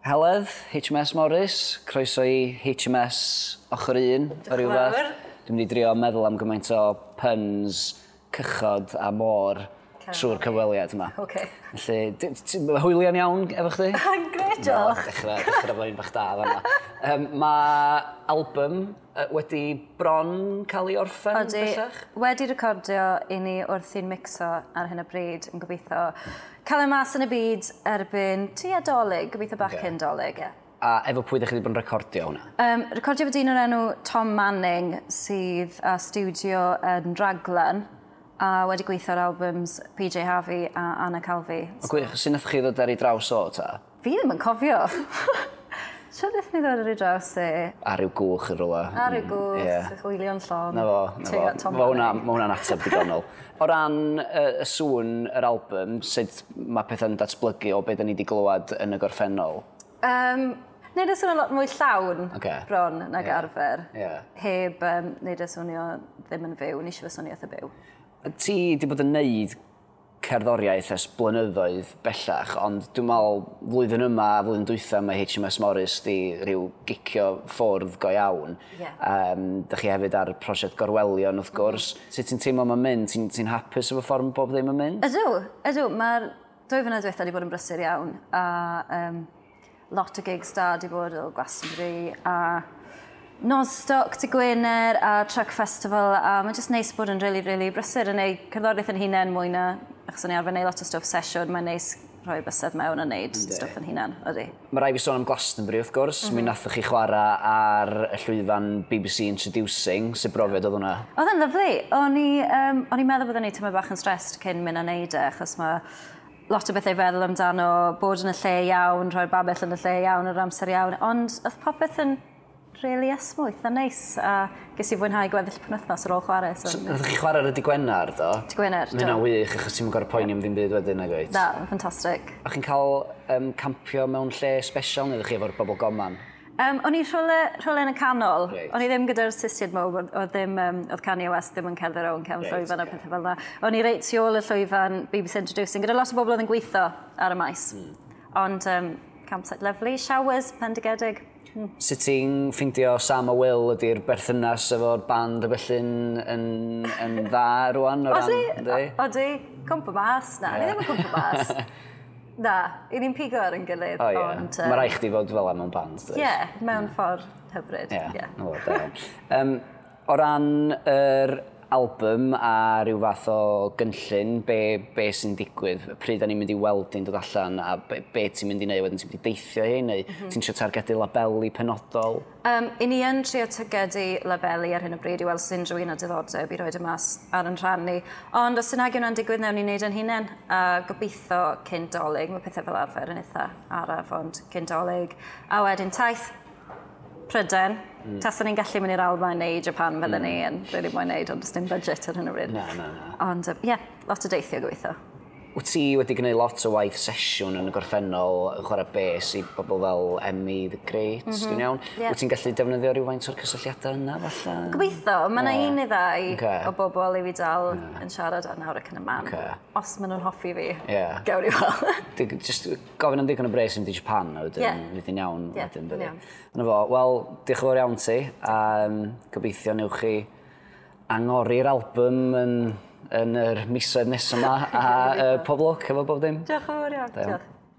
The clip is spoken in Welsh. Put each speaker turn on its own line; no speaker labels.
Heledd, HMS Morris, croeso i HMS ochr un, o ryw fath. Dwi'n mynd i drio meddwl am gymaint o puns, cychod a môr trwy'r cyfweliad yma. Okay. Felly, ti'n hwylian iawn efo chdi? Gret, diolch.
Dechrau, dechrau fo un bach
da fanna. Um, mae album Yy wedi bron cael ei orffen Odi, bellach? wedi recordio
i ni wrthi'n micso ar hyn o bryd yn gobeithio cael e mas yn y byd erbyn tua Dolig, gobeithio bach cyn Dolig. A efo pwy dych chi wedi bod yn
recordio hwnna? Um, recordio efo dyn o'r enw
Tom Manning sydd â studio yn Raglan a wedi gweithio ar albums PJ Harvey a Anna Calvi. O gwych, sy'n nath chi
ddod ar ei draws o ta? Fi ddim yn cofio.
Siwr beth ni ddod ar ei draws e. Ar yw gwch yn
rola. Ar yw gwch, yeah.
hwylion llon. Na fo, na fo. Mae hwnna,
ma hwnna'n ateb digonol. o ran y, y sŵn yr album, sut mae pethau'n datblygu o beth ni wedi glywed yn y gorffennol? Um,
Neud y swnio lot mwy llawn okay. bron nag yeah. arfer. Yeah. Heb um, neud y swnio ddim yn fyw, nes i fy swnio eitha byw. Ti wedi
bod yn neud cerddoriaeth ers blynyddoedd bellach ond dwi'n meddwl flwyddyn yma a flwyddyn dwytha mae HMS Morris di rhyw gicio ffwrdd go iawn. Yeah. Um, da chi hefyd ar prosiect gorwelion wrth gwrs. Mm. Sut ti'n teimlo mae'n mynd? Ti'n ti hapus efo ffordd mae bob ddim yn mynd? Ydw, ydw. Mae'r
dwy fynedd diwetha wedi bod yn brysur iawn a um, Lot o gigs da di bod o Glastonbury a Nostoc, Ty Gwener a Truck Festival a mae'n just neis bod yn really, really brysur yn ei cerddoriaeth yn hunain mwy na achos o'n i arfer neud lot o stwff sesiwn, mae'n neis rhoi bysedd mewn a neud Yndi. stwff yn hunan, ydy. Mae rai fi sôn am Glastonbury
wrth gwrs, mm -hmm. mi mhm. nathoch chi chwarae ar y llwyfan BBC Introducing, sut brofiad oedd hwnna? Oedd yn lyflu, o'n
i, um, o'n i meddwl bod o'n ei tymor bach yn stressed cyn mynd a neud e, achos mae lot o bethau i feddwl amdano, bod yn y lle iawn, rhoi'r babell yn y lle iawn, yr amser iawn, ond oedd popeth yn really esmwyth a neis a ges i fwynhau gweddill penwythnos ar ôl chwarae. So, so Rydych chi chwarae ar y
digwenar, do? Digwenar, do. Mae'n wych,
achos ti'n
gorau poeni am ddim byd wedyn, nag oed? Da, ffantastig.
A chi'n cael um,
campio mewn lle special neu ydych chi efo'r bobl goman? Um, o'n i rhywle,
rhywle yn y canol. Right. O'n i ddim gyda'r sistiad mo, oedd, ddim, um, oedd Kanye West ddim yn cerdded o'n cefn right, llwyfan okay. a pethau fel yna. O'n i reit tu ôl y llwyfan BBC Introducing, gyda lot o bobl oedd yn gweithio ar y maes. Mm. Ond um, campsite lovely, showers, pendigedig. Mm. Sut ti'n
ffeindio Sam a Will ydy'r berthynas efo'r band a felly'n yn, yn dda rwan o ran... Odi, odi,
cwmpa mas. Na, yeah. ni ddim yn cwmpa mas. Na, i ni'n pigo ar yn gilydd. O ie, ond, um... mae rai chdi
fod fel am o'n band. Ie, yeah, mewn mm. ffordd
hyfryd. Ie, yeah, no, da iawn. um,
o ran yr album a rhyw fath o gynllun, be, be sy'n digwydd, pryd da ni'n mynd i weld i'n dod allan a be, be ti'n mynd i wneud wedyn, ti'n mynd i deithio hyn neu mm -hmm. ti'n siarad targedu labelu penodol? Um, I ni yn
trio tygedu labelu ar hyn o bryd i weld sy'n rhywun o diddordeb i roed y mas ar yn rhan ni. Ond os sy'n agio yna'n digwydd, newn ni wneud yn hunain. A gobeithio cyn dolyg, mae pethau fel arfer yn eitha araf, ond cyn dolyg. A wedyn taith Pryden. Mm. Tasa ni'n gallu mynd i'r Almaen neu Japan fydden mm. ni yn rili really moyn neud, ond dim budget ar hyn o bryd. Na, na, na. Ond,
ie, yeah,
lot o deithio gobeithio. Wyt ti wedi
gwneud lot o waith sesiwn yn y gorffennol yn chwarae bes i bobl fel Emmy the Great, mm -hmm. dwi'n iawn? Yeah. Wyt ti'n gallu defnyddio rhywfaint o'r cysylltiadau yna, falle? Gobeithio, mae yna yeah. un neu ddau okay. o bobl i fi dal yeah. yn siarad ar nawr ac yn y man. Okay. Os maen nhw'n hoffi fi, yeah. gawn i weld. Just gofyn am ddigon o bres yn di Japan, a wedyn yeah. fydd yn iawn. Yeah, wedyn, iawn. Yna fo, wel, diolch yn fawr iawn ti, a um, gobeithio newch chi Angori'r album yn, yn yr misoedd nesa 'ma
a
yy pob lwc
efo
bob dim. Diolch yn fowr
iawn. Da
iawn. Diolch.